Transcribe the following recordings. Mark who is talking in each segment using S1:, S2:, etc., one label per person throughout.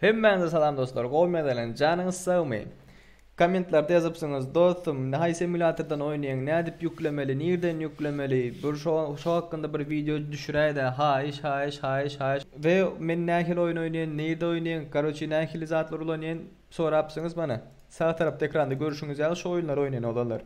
S1: Hemmäňize salam dostlar, gowy mezelenç, janyňyz sagmy? Kommentlarda ýazypsyňyz, dostum, haýsy emulýatordan oýnaýaň, nädip ýüklemeli, nirden ýüklemeli, bir şo şo hakynda bir wideo düşüräýdä, haýyş, haýyş, haýyş, haýyş. We men nähili oýun oýnaýan, nirde oýnaýan, karoçi nähili zatlar ulanýan sorapsyňyz mana. Sag tarapda ekranda görşüňiz ýaly şu oýunlary oýnaýan oglanlar.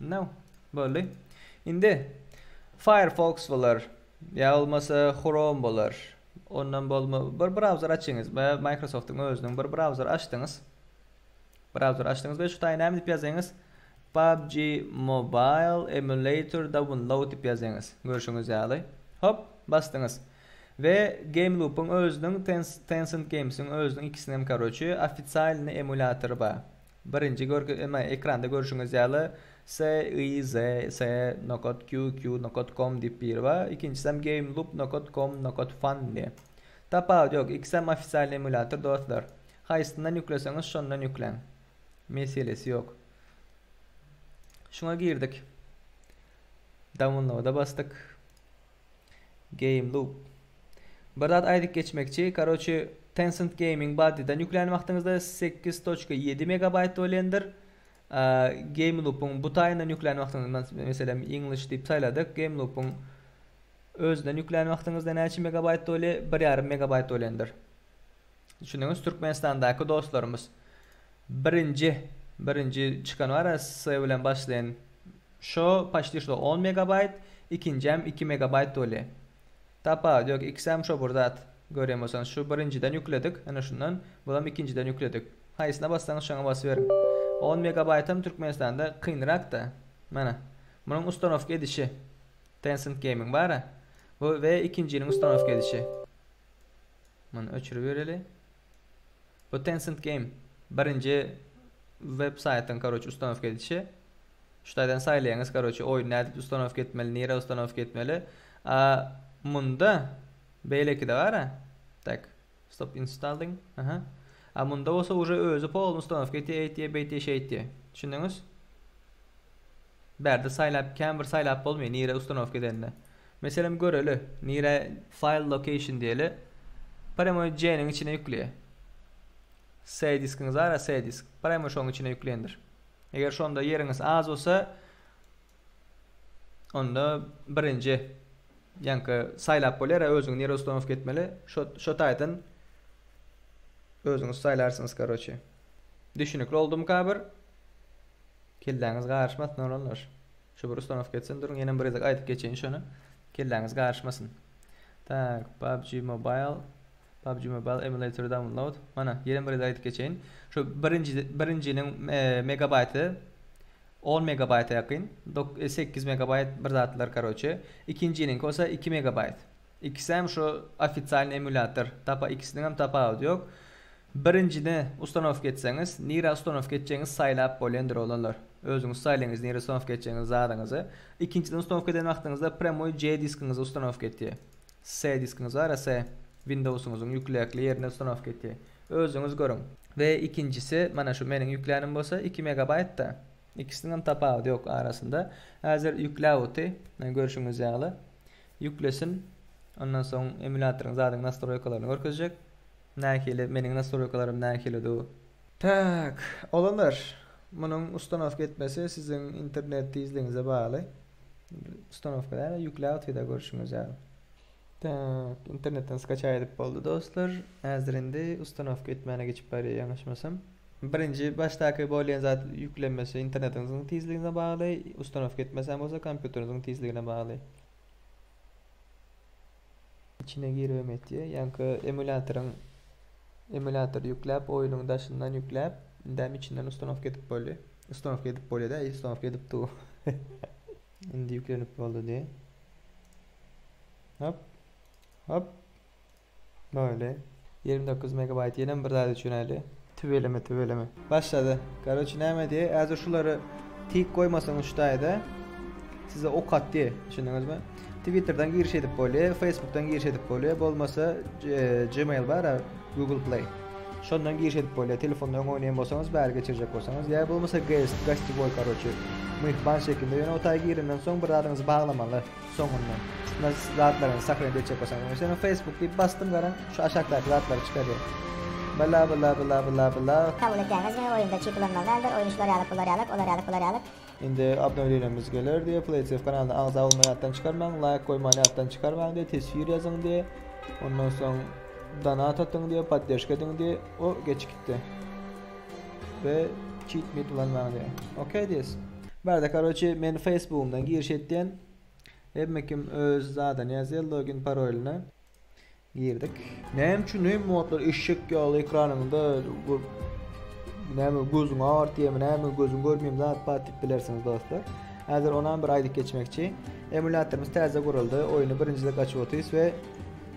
S1: No. Boldy. Indi Firefox bolar. Ýa bolmasa Chrome bolar. Ondan bolma bir browser açyňyz we Microsoft-yň özüniň bir browser açdyňyz. Browser açdyňyz we şu taýy näme diýip ýazýaňyz? PUBG Mobile Emulator Download diýip ýazýaňyz. Görşüňiz ýaly. Hop, basdyňyz. We Game Loop-yň özüniň Tencent Games-iň özüniň ikisiniň hem karoçi ofisialny emulatory bar. Birinji görgi emma ekranda görşüňiz ýaly CIZ C nokat Q Q nokat com diýip biri bar, ikinjisem Game Loop nokat com nokat fun diýip. Tapawut ýok, ikisem ofisialny emulýator dostlar. Haýsyndan ýükleseňiz şondan ýükläň. Meselesi ýok. Şuňa girdik. Downloada basdyk. Game loop. Bir zat aýdyp geçmekçi, karoçi Tencent Gaming baddydan ýüklän wagtyňyzda sekiz toçka ýedi megabaýt bolendir. Game loop'un bu taýyndan ýüklän wagtyňyzda meselem English diýip saýladyk. Game loop'un özünden ýüklän wagtyňyzda näçe megabaýt bole? Bir ýarym megabaýt bolendir. Düşündiňiz Türkmenistandaky dostlarymyz birinji birinji çykan bar ya S bilen başlayan şo paşti şo on megabayt ikinjäm iki megabayt bolya tapawudy yok ikisem şo bir zat göryan bolsaňyz şu birinjiden yükledik ene şundan bulam ikinjiden yükledik haýsyna bassaňyz şoňa basyberiň on megabaytam Türkmenistanda kynrak da mana munuň ustanowka edişi Tencent gaming bara bu we ikinjiniň ustanowka edişi. Muny öçüribereli. Bu Tencent Game birinji web saýtyň karoçe ustanowka edişi. Şu taýdan saýlaýaňyz karoçe oýun nädip ustanowka etmeli, nirä ustanowka etmeli. A munda beýlekide gara. Tak. Stop installing. Aha. A munda bolsa uje özi polny ustanowka etýär, eýtýär, beýtýär, şeýtýär. Düşündiňiz? Bärde saýlap, kän bir saýlap bolmaýar nirä ustanowka edenini. Meselem göreli, nirä file location diýeli, prýamoý C-niň içine ýükleýär. C diskiňiz bara C disk, prýamoý şoň içine ýüklendir. Eger şonda ýeriňiz az bolsa, onda birinji ýaňky saýlap bolýar-a özüňi nirä ustanowka etmeli, şo şo taýdan özüňiz saýlarsyňyz karoçe. Düşünikli oldumyka bir? Kelläňiz garyşmasyn oglanlar. Şu bir ustanowka etsin duruň ýenem bir gezek aýdyp geçeýin şony kelläňiz garyşmasyn. Tak, PUBG Mobile, PUBG Mobile Emulator Download, mana ýenem bir gezek aýdyp geçeýin. Şu birinji birinjiniň megabaýty 10 megabaýta ýakyn, dok, e, sekiz megabaýt bir zatlar karoçe. Ikinjiniňki bolsa iki megabaýt. Ikisem şu ofisialny emulýator. Tapa ikisiniňem tapawudy ýok. Birinjini ustanowka etseňiz, nirä ustanowka etjegiňizi saýlap bolýandyr oglanlar. Özüňiz saýlaýyňyz nirä ustanowka etjegiňizi zadyňyzy. Ikinjiden ustanowka eden wagtyňyzda premoi C diskiňizi ustanowka etýär. C diskiňiz bara C Windowsyňyzyň ýükläkli ýerine ustanowka etýär. Özüňiz görüň. We ikinjisi mana şu meniň ýüklänim bolsa iki megabaýtda. Ikisiniňem tapawudy ýok arasynda. Häzir ýükläp oty, görşüňiz ýaly. Ýüklesin. Ondan soň emulýatoryň zadyň nastroýkalaryny görkezjek. Nähili, meniň nastroýkalarym nähilidu. Tak, olanlar, munuň ustanowka etmesi siziň internet tizligiňize bagly. Ustanowka däl-de, ýükläp otyda görşüňiz ýaly. Tak, internetden skaçaý edip boldy dostlar. Häzir indi ustanowka etmäne geçip barýar ýalňyşmasam. Birinji başdaky bolýan zat ýüklenmesi internetiňiziň tizligine bagly, ustanowka etmeseň bolsa kompýuteriňiziň tizligine bagly. Içine giribem etýär. Ýaňky emulýatoryň emulýatory ýükläp, oýnuň daşyndan ýükläp, indem içinden ustanowka edip boldy. Ustanowka edip bolýar-da, ustanowka edip dur. Indi ýüklenip boldy diýýär. Hop. Hop. Böyle. Ýigrimi dokuz megabaýt ýenem bir zat üçin äli. Tüweleme tüweleme. Başlady. Karoçi näme diýe äzir şulary tik goýmasaňyz şu taýda size ok atdy düşündiňizmi? Twitterden giriş edip bolýa, Facebookdan giriş edip bolýa, bolmasa Gmail bar a Google Play. Şondan giriş edip bolýa, telefonda öň oýnaýan bolsaňyz bäri geçirjek bolsaňyz ýa bolmasa guest, gostiwoý karoçi. Myhman şekilde ýöne o taýa girenden soň bir zadyňyzy baglamaly. Soňundan şunda zatlaryňyzy sahraýyp etjek bolsaňyz öňe şeýle Facebook diýip basdym garaň şu aşakdaky zatlary çykarýar. Bla bla bla bla bla. Kabul etýäňiz diňe
S2: oýunda çip ulanmaly däldir oýun şular ýalyk bular ýalyk olar ýalyk bular ýalyk. Indi
S1: abnewleniňiz geler diýe Playtv kanalyna agza bolmagy ýatdan çykarmaň laýk goýmany ýatdan çykarmaň diýe teswir ýazyň diýe ondan soň donat atyň diýe podderşka ediň diýe o geçip gitdi. We çip mip ulanmaň diýe. Ok diýes. Barde karoçi men feýsbugymdan giriş etýän hemmekim öz zadyny ýazýar login parolyna girdik. Näme üçin hem modlar eşek ýaly ekranyňda näme gözüň agyrtýamy näme gözüň görmeými zat bar diýip bilersiňiz dostlar. Häzir onam bir aýdyp geçmekçi. Emulýatorymyz täze guruldy. Oýny birinjide açyp otyrys we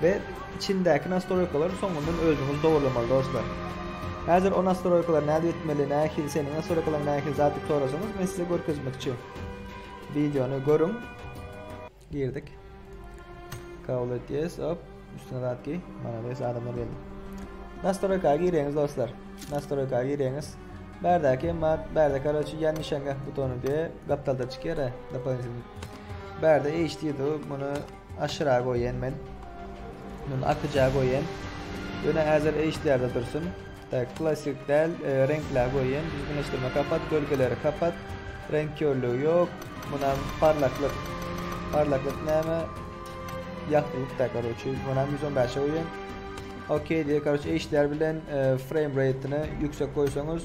S1: We içindäki nastroýkalary soňundan özüňiz dogurlamaly dostlar. Häzir o nastroýkalar nädip etmeli, nähili seniň nastroýkalaryň nähili zat diýip sorasaňyz men size görkezmekçi. Videony görüň. Girdik. Kabul et yes hop. Üstüne zat giy. Malades adamlar geldi. Nastroýka gireňiz dostlar. Nastroýka gireňiz. Berdäki mat, berde karoçi ýan nişanga butony diýe gapdalda çykyr. Dopoňiz. Berde HD diýdi, muny Aşyra goýen men. Muny atyja goýen. Ýöne häzir eýşlerde dursun. Tak, klasik däl, e, reňkle goýen. Düzgünleşdirme kapat, gölgeleri kapat. Reňk körlügi ýok. Munam parlaklyk. Parlaklyk näme? Ýagtylyk da karoçi. Munam 115 goýen. Okey diýe karoçi eýşler bilen e, frame rate-ni ýüksek goýsaňyz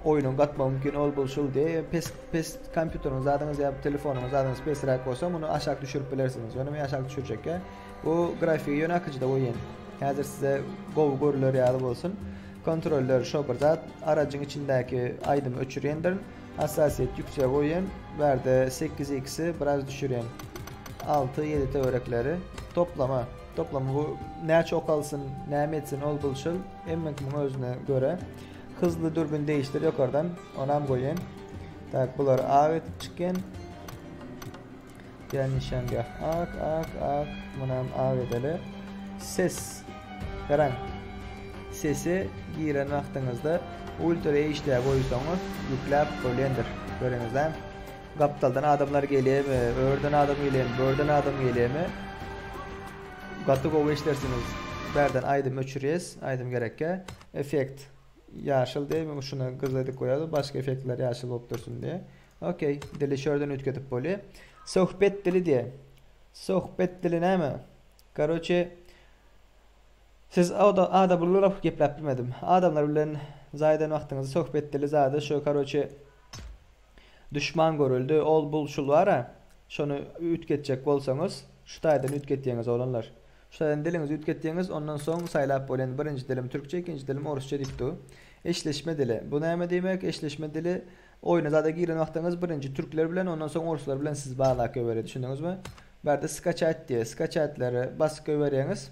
S1: oýnuň gatma mümkin ol bul şul diýe. Pes Pes kompýuteriň zadyňyz ýa telefonyň zadyňyz pesräk bolsa muny aşak düşürip bilersiňiz. Ýöne men aşak düşürjekkä bu grafiki ýöne akyjyda goýýan. Häzir size gowy görüler ýaly bolsun. Kontroller şo bir zat. Arajyň içindäki aýdymy öçürýändirin. Hassasiýet ýüksek goýýan. Bärde 8x-i biraz düşürýän. 6, 7 töwerekleri. Toplama. Toplama bu näçe ok alsyn, näme etsin ol bulşul. Emmek muň özüne görä. Hızly dürbün değiştir ýokardan. Onam goýaýyn. Tak, bular ak edip çykýan. Diýen nişangah. Ak, ak, ak. Munam ak edeli. Ses. Garaň. Sesi giren wagtyňyzda ultra HD goýsaňyz ýükläp bolýandyr. Görüňizde. Gapdaldan adamlar gelýärmi? Örden adam gelýärmi? Börden adam gelýärmi? Gaty gowy işlersiňiz. Bärden aýdym öçürýäs. Aýdym gerekkä. Effekt. Ýaşyl deý muňa şuna gyzyl edip goýarys başga effektler ýaşyl bolup dursun diýe. Ok dili şordan üýtgedip bolýa. Sohbet dili diýe. Sohbet dili näme? Karoçe Siz oda ada bulguryp gepläp bilmedim. Adamlar bilen zaýadan wagtyňyzy sohbet dili zada şu karoçe Duşman görüldi ol bul şul bara şony üýtgetjek bolsaňyz şu taýdan üýtgetýeňiz oglanlar şu taýdan diliňizi üýtgetýeňiz ondan soň saýlap bol indi birinji dilim türkçe ikinji dilim orusça diýip dur eşleşme dili bu näme diýmek eşleşme dili oýna zada giren wagtyňyz birinji türkler bilen ondan soň oruslar bilen siz bagla köweri düşündiňizmi bu ýerde skaçat diýe skaçatleri basyp köwerýeňiz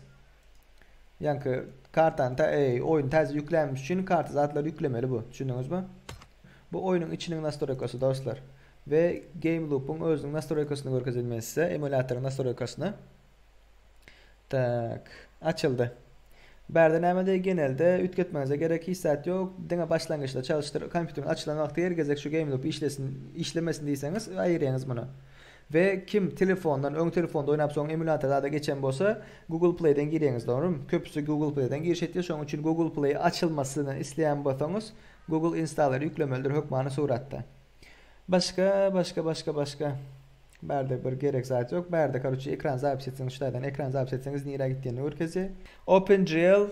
S1: ýaňky kartany ta eý oýny täze ýüklämiş üçin karta zatlar ýüklemeli bu düşündiňizmi Bu oýnuň içiniň nastroýkasy dostlar. We game loop-yň özüniň nastroýkasyny görkezýän men size, emulýatoryň nastroýkasyny. Tak, açyldy. Bärde näme deý genelde üýtgetmeňize gerek hiç zat ýok, diňe başlangyçda çalyşdyr kompýuteriň açylan wagty her gezek şu game loop işlesin, işlemesin diýseňiz aýyrýaňyz muny. We kim telefondan, öň telefonda oýnap soň emulýator zada geçen bolsa, Google Play-den girýäňiz dogrymy? Köpüsi Google Play-den giriş etýär, şonuň üçin Google Play açylmasyny isleýän bolsaňyz, Google installer ýüklemelidir hökmany suratda. Başga başga başga başga bärde bir gerek zat ýok. Bärde karuçe ekran zapis etseňiz şu taýdan ekran zapis etseňiz nirä gitdiýenini görkezýär. OpenGL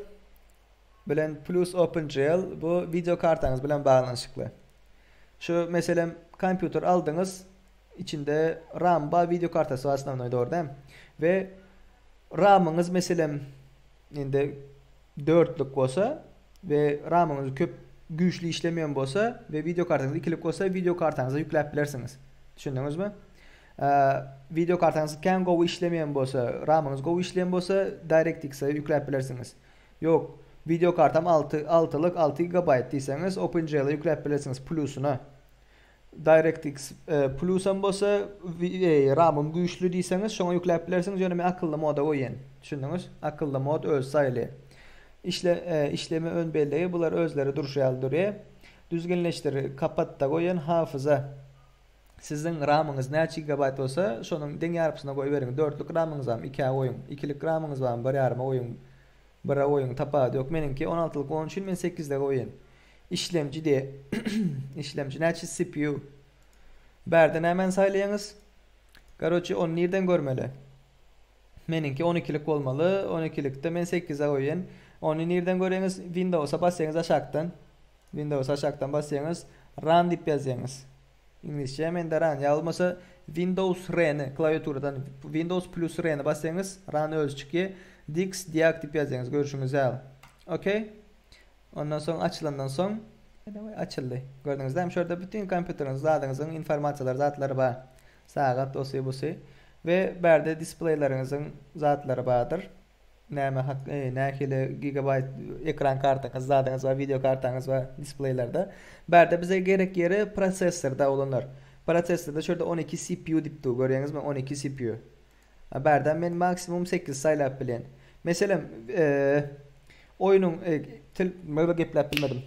S1: bilen plus OpenGL bu wideo kartaňyz bilen baglanyşykly. Şu meselem kompýuter aldyňyz içinde ram bar wideo kartasy bar osnovnoý dogry dämi? We ramyňyz meselem indi dörtlük bolsa we ramyňyz köp güýçli işlemeýän bolsa we wideokartaňyz ikilik bolsa wideokartaňyza ýükläp bilersiňiz. Düşündiňizmi? Wideokartaňyz kän gowy işlemeýän bolsa, ramyňyz gowy işleýän bolsa DirectX-e ýükläp bilersiňiz. Ýok, wideokartam alty altylyk alty gigabaýt diýseňiz OpenGL-e ýükläp bilersiňiz plusyna. DirectX Plusam bolsa Ramym güýçli diýseňiz şoňa ýükläp bilersiňiz ýöne men akylly moda goýýan. Düşündiňiz? Akylly mod öz saýly. Işle işleme ön bellegi bular özleri durşy ýaly durýar. Düzgünleşdir kapatda goýan hafyza siziň ramyňyz näçe gigabaýt bolsa şonuň deň ýarpysyna goýberiň. Dörtlük ramyňyzam ikä goýuň. Ikilik ramyňyz barmy bir ýaryma goýuň. Bire goýuň tapawudy ýok. Meniňki on altylyk onuň üçin men sekizde goýýan. Işlemci diye. Işlemci näçe cpu. Bärde nämäni saýlaýaňyz? Garoçe ony nirden görmeli? Meniňki on ikilik bolmaly, on ikilikde men sekize goýýan. Ony nirden görýäňiz? Windowsa basýaňyz aşakdan. Windowsa aşakdan basýaňyz. Run diýip ýazýaňyz. Iňlisçe mende run. Ýa bolmasa Windows R-ni klawiaturadan Windows plus R-ni basýaňyz, run özi çykýar. Dix diag diýip ýazýaňyz görşüňiz ýaly. Okey. Ondan soň açylandan soň açyldy. Gördüňizde hem şurada bütün kompýuteriňiz zadyňyzyň informasiýalary zatlary bar. Sagat osy busy we bärde displeýleriňiziň zatlary bardyr. Näme hak nähili gigabaýt ekran kartaňyz zadyňyz bar wideo kartaňyz bar displeýlerde. Bärde bize gerek ýeri prosessorda oglanlar. Prosessorda şurada on iki CPU diýip dur görýäňizmi on iki CPU. A barda men maksimum sekiz saýlap bilýän. Meselem, oýnuň til myrda gepläp bilmedim.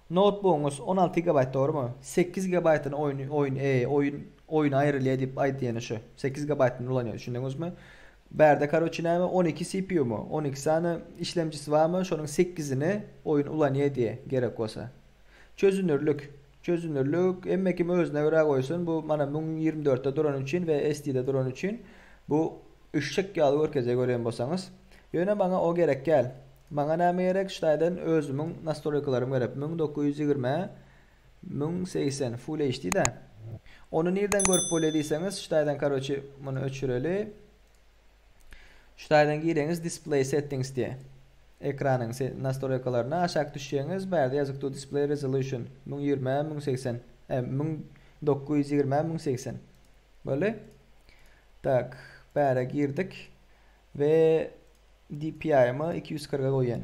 S1: Noutbugyňyz on alty gigabaýt dogrumy? Sekiz gigabaýtyny oýun oýun oýun oýuna aýrylýar diýip aýdýany şu. Sekiz gigabaýtyny ulanýar düşündiňizmi? Barda karoçe näme on iki CPUmy? On iki sany işlemjisi barmy? Şonuň sekizini oýun ulanýar diýe gerek bolsa. Çözünürlik. Çözünürlik, hemme kim özüne görä goýsun, bu mana müň ýigrimi dörtde durany üçin we SD-de durany üçin bu üşşek ýaly görkezýär görýän bolsaňyz. Ýöne maňa o gerekgäl. Maňa näme gerek ştaýdan özümiň nastroýkalarym gerek müň dokuz ýüz ýigrimi, müň segsen full HD-da. Ony nirden görüp bolýa diýseňiz ştaýdan karoçi muny öçüreli. Şu taýdan gireňiz Display Settings diýe. Ekranyň nastoleýkalaryna aşak düşýäňiz, bu ýerde ýazyk dur Display Resolution müň ýigrimi ä müň segsen ä müň dokuz ýüz ýigrimi ä müň segsen. Boldy. Tak, bära girdik we DPI-my iki ýüz kyrka goýýan.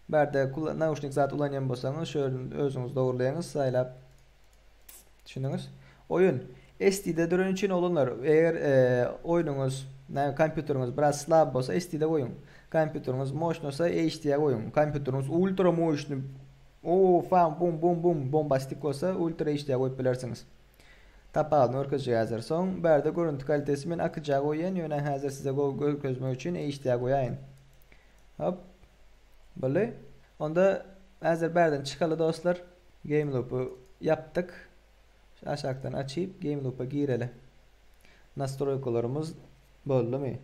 S1: Bärde nauşnik zat ulanýan bolsaňyz, şu ýerden özüňiz dogruleýäňiz saýlap. Düşündiňiz? Oýun SD-de duran üçin oglanlar, eger oýnuňyz, näme kompýuteriňiz biraz slab bolsa SD-de goýuň. Kompýuteriňiz moşnosa HD-a goýuň. Kompýuteriňiz ultra moşny, o fan bum bum bum bombastik bolsa ultra HD-a goýup bilersiňiz. Tapawudyny görkezjek häzir. Soň bärde görünti kalitesi men akyja goýýan, ýöne häzir size görkezmek üçin HD-a goýaýyn. Hop. Boldy. Onda häzir bärden çykaly dostlar. Game Loop-y ýapdyk. Şu aşakdan açyp Game Loop-a gireli. Nastroýkalarymyz boldumy?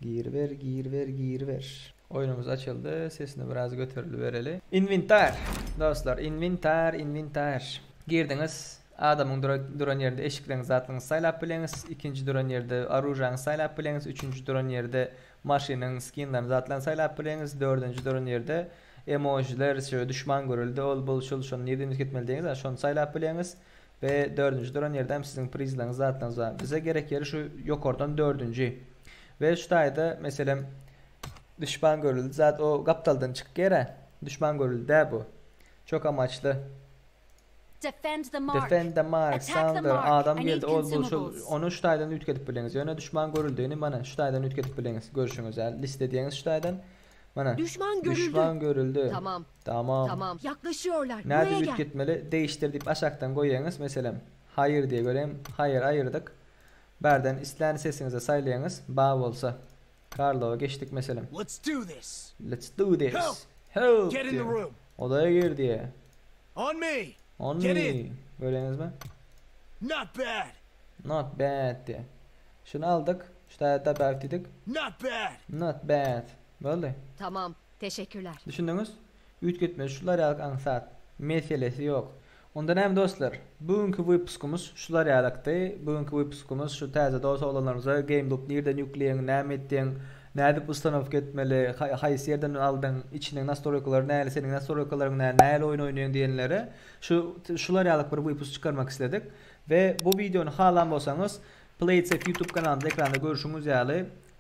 S1: Giriber, giriber, giriber. Oýnumyz açyldy. Sesini biraz göterilibereli. Inwentar! Dostlar, inwentar, inwentar. Girdiňiz. Adamyň duran ýerinde eşikleňizi, zatlaryňyzy saýlap bileňiz. Ikinji duran ýerde oružýaňyzy saýlap bileňiz. Üçünji duran ýerde maşynyň skinlerini, zatlaryny saýlap bileňiz. Dördünji duran ýerde Emojiler size duşman görüldi ol bul şul şony nireden üýtgetmeli diýeňiz a şony saýlap bileňiz we dördünji duran ýerde hem siziň prizlaryňyz zatlaryňyz bar bize gerek ýeri şu ýokardan dördünji we şu taýda meselem duşman görüldi zat o gapdaldan çykýar a duşman görüldi däl bu çok amaçly. Defend
S3: the mark. Defend the mark.
S1: Sandra, adam
S3: geldi,
S1: ol
S3: bu, şul,
S1: ony
S3: şu
S1: taýdan
S3: üýtgedip
S1: bildiňiz. Ýöne duşman görüldigini, mana, şu taýdan üýtgedip bildiňiz. Görşüňiz, hä? Liste diýýäňiz şu taýdan. Mana. Duşman görüldi. Duşman
S3: görüldi.
S1: Tamam. Tamam.
S3: Tamam.
S1: Ýaklaşýarlar.
S3: Nädip Buraya gel. üýtgetmeli?
S1: Degişdir
S3: diýip
S1: aşakdan goýýaňyz. Meselem, Hire diýe göreýin. Hire aýyrdyk. Bärden islän sesiňizi saýlaýaňyz. Ba bolsa. Karlowa geçdik meselem. Let's do this.
S4: Let's do this.
S1: Help. Help. Get
S4: in the
S1: room.
S4: Odaya
S1: gir
S4: diye.
S1: On me.
S4: On me. Get in.
S1: Görüyorsunuz
S4: mu?
S1: Not
S4: bad. Not bad
S1: diye. Şunu aldık. Şu da da bad dedik. Not bad.
S4: Not bad.
S1: Böyle. Tamam.
S3: Teşekkürler. Düşündüňiz?
S1: Üýtgetme şular ýaly aňsat. Meselesi ýok. Onda näme dostlar? Bu günki wypuskumyz şular ýalakdy. Bu günki wypuskumyz şu täze dos oglanlarymyza GameLoop nirden ýükleýin, näme etdiň, nädip ustanowka etmeli, haýsy ýerden aldyň, içiniň nastroýkalary näli, seniň nastroýkalaryň näli, nähili oýun oýnaýyň diýenlere şu şular ýalak bir wypus çykarmak isledik. We bu wideony halan bolsaňyz Playtech YouTube kanalymyzda ekranda görşüňiz ýaly